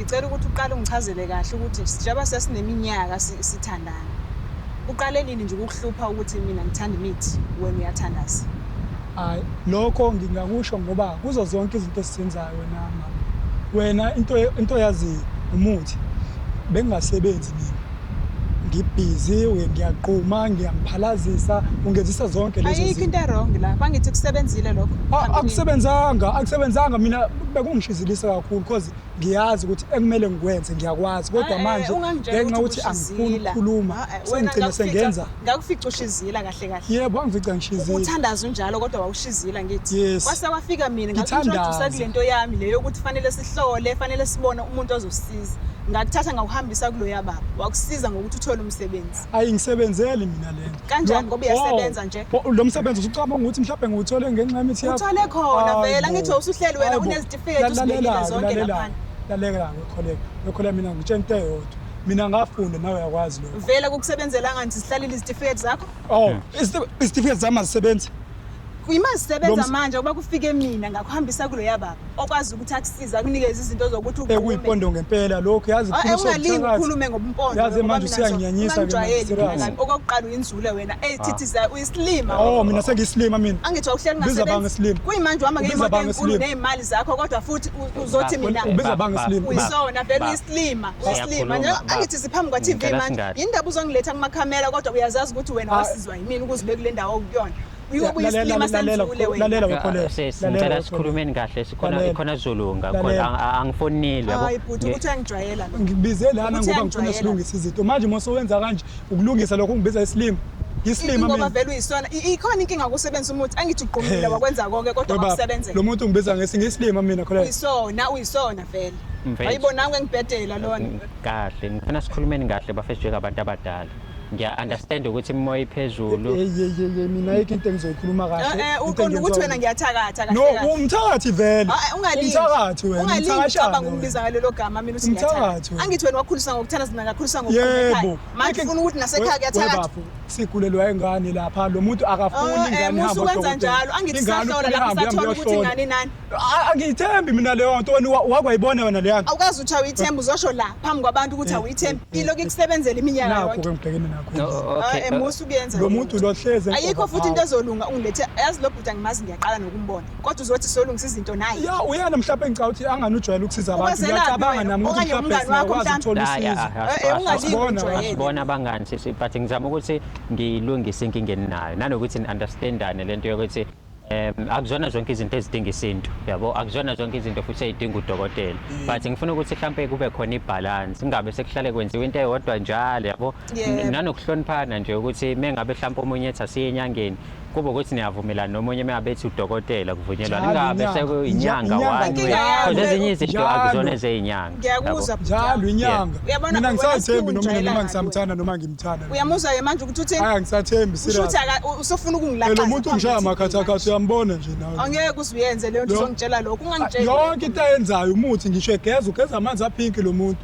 Ngicela ukuthi uqale ungichazele kahle ukuthi sijaba sesineminyaka sithandana. Uqale nini nje ukukuhlupha ukuthi mina ngithanda imithi wena uyathandaza? Hayi, lokho ngingakusho ngoba kuzo zonke izinto esizenzayo wena mama. Wena into into yaziyo umuthi bengingasebenzi mina. ngibhizi ngiyaquma ngiyangiphalazisa ungenzisa zonke lezo ayikho zinto into erong la bangithi kusebenzile lokho A- phambilini. akusebenzanga akusebenzanga mina bekungishizilisa kakhulu because ngiyazi ukuthi ekumele ngikwenze ngiyakwazi kodwa Ah, eh, manje ungangitsheli ngenxa ukuthi angifuni ukushizila. ukukhuluma Ah, eh, wena sengigcine ngakufica- sengenza ngakufica ushizila kahle kahle kahle yebo wangifica ngishizile uthandaza unjalo kodwa wawushizila ngithi yes. kwase kwafika mina ngakuintroduce kule nto yami leyo ukuthi fanele sihlole fanele sibone umuntu ozosiza ngakuthatha ngakuhambisa kuloya baba wakusiza ngokuthi uthole umsebenzi ayi ngisebenzeli mina lento kanjani ngoba uyasebenza oh, nje oh, lo msebenzi usucabanga ukuthi mhlawumbe ngiwuthole ngenxa yemithi yakho uthole khona vela ngithi usuhleli wena unezitifiketi usibekile zonke lapha laleka ngikholeka ngikholeka mina ngitshela into eyodwa mina ngafunda nawe uyakwazi lokho vele kukusebenzela ngani sihlalile izitifiketi zakho oh izitifiketi zami azisebenzi yima zisebenza manje ukuba kufike mina ngakuhambisa kuloya baba okwazi ukuthi akusiza akunikeze izinto zokuthi eh, ekuyipondo ngempela lokho yazi oh, eh, ungalingi ukhulume ngobumpondo yazi manje usiyangiyanyisa okokuqala uyinzule wena eyithithiza ah. uyisilima oh mina sengiyisilima mina angithi wawuhleli ngasebenzi kuyimanje uhamba ngeyimoto enkulu neyimali zakho kodwa futhi uzothi mina ubiza banga isilima uyisona vele uyisilima uyisilima nje angithi siphambi kwa TV manje indaba uzongiletha kuma camera kodwa uyazazi ukuthi wena ah. wasizwa yimini ukuzibe kule ndawo okuyona sicela sikhulumeni kahle sikhona zulu angifonile ngibizele ana ngoba ngifuna silungisa izinto manje uma sowenza kanje ukulungisa lokho ungibiza isilima isilima ngoba vele uyisona ikhona inkinga ukusebenzisa umuthi angithi ugqumile wakwenza konke kodwa wakusebenzela lo muntu ungibiza ngesinye isilima mina khona uyisona uyisona vele ayibonanga engibhedela lona kahle ngifuna sikhulumeni kahle bafethu njengabantu abadala ngiya-understand ukuthi imimoya iphezulu yeyeyeye mina yikho into engizoyikhuluma kahle eh, eh, uqonda ukuthi wena ngiyathakatha no umthakathi vele ah, eh, umthakathi wena umthakathi ucabanga ukumbiza ngalelo gama mina uthi ngiyathakatha angithi wena wakhulisa ngokuthanda Ngakhuliswa ngokukhuleka. Yebo. Manje ufuna ukuthi nasekhaya kuyathakathwa. Bafo sigulelwa ingane lapha lo muntu akafuni Oh, eh, ingane musa ihamba ukwenza njalo. Angithi sahlola lapho sathola ukuthi ingane inani. Angiyithembi mina leyo nto wena wa- wakwayibona wena leya nto. Awukazi uthi awuyithembi uzosho la phambi kwabantu ukuthi awuyithembi. Ilokhu ikusebenzela iminyaka Nakho yonke. ke ngibhekene nakho. No, Ah, okay. eh, musa ukuyenza. Lo muntu lo hleze. Ayikho futhi into ezolunga ungilethe. Yazi lo bhuti angimazi ngiyaqala nokumbona. kodwa uzothi solungisa izinto naye ya uyena mhlawumbe ngicabanga ukuthi angani ujwayele ukusiza abantu Ukwenzela ngiyacabanga wena, nami ukuthi okanye mhlawumbe umngani wakho singakwazi ukuthola mhlawumbe. Ya, ya, usizo ah, Eh, eh, ungalingi asibona, ujwayele. asibona abangani sisi but ngizama ukuthi ngilungise inkinga eninayo nanokuthi ni-understandane le nto yokuthi um akuzona zonke izinto ezidinga isintu yabo akuzona zonke izinto futhi eyidinga udokotela Mm. but ngifuna ukuthi mhlawumpe kube khona ibhalansi kungabe sekuhlale kwenziwa into eyodwa njalo yabo Yebo. N- nanokuhloniphana nje ukuthi mengabe mhlawumpe omunye ethi asiye enyangeni kuba ukuthi niyavumelana nomunye uma bethi udokotela kuvunyelwa Njalo ningabe inyanga. sekuyinyanga Inyanga one inyanga. way because ezinye izinto Njalo. akuzona ezeyinyanga ngiyakuzwa bhuti wami. njalo inyanga Uyabona, mina wena ngisathembi noma siwujwayelanga noma ngisamthanda noma ngimthanda uyamuzwa-ke manje ukuthi uthini aya ngisathembi usho ukuthi serious aka- u- usufuna ukungilaqaza lo muntu phambi ungishaya kwethu. amakhathakhatha uyambona nje nawe angeke uze uyenze leyo nto Lo- uzongitshela lokho ungangitsheli yonke into ayenzayo umuthi ngisho egeza ugeza amanzi aphinki lo muntu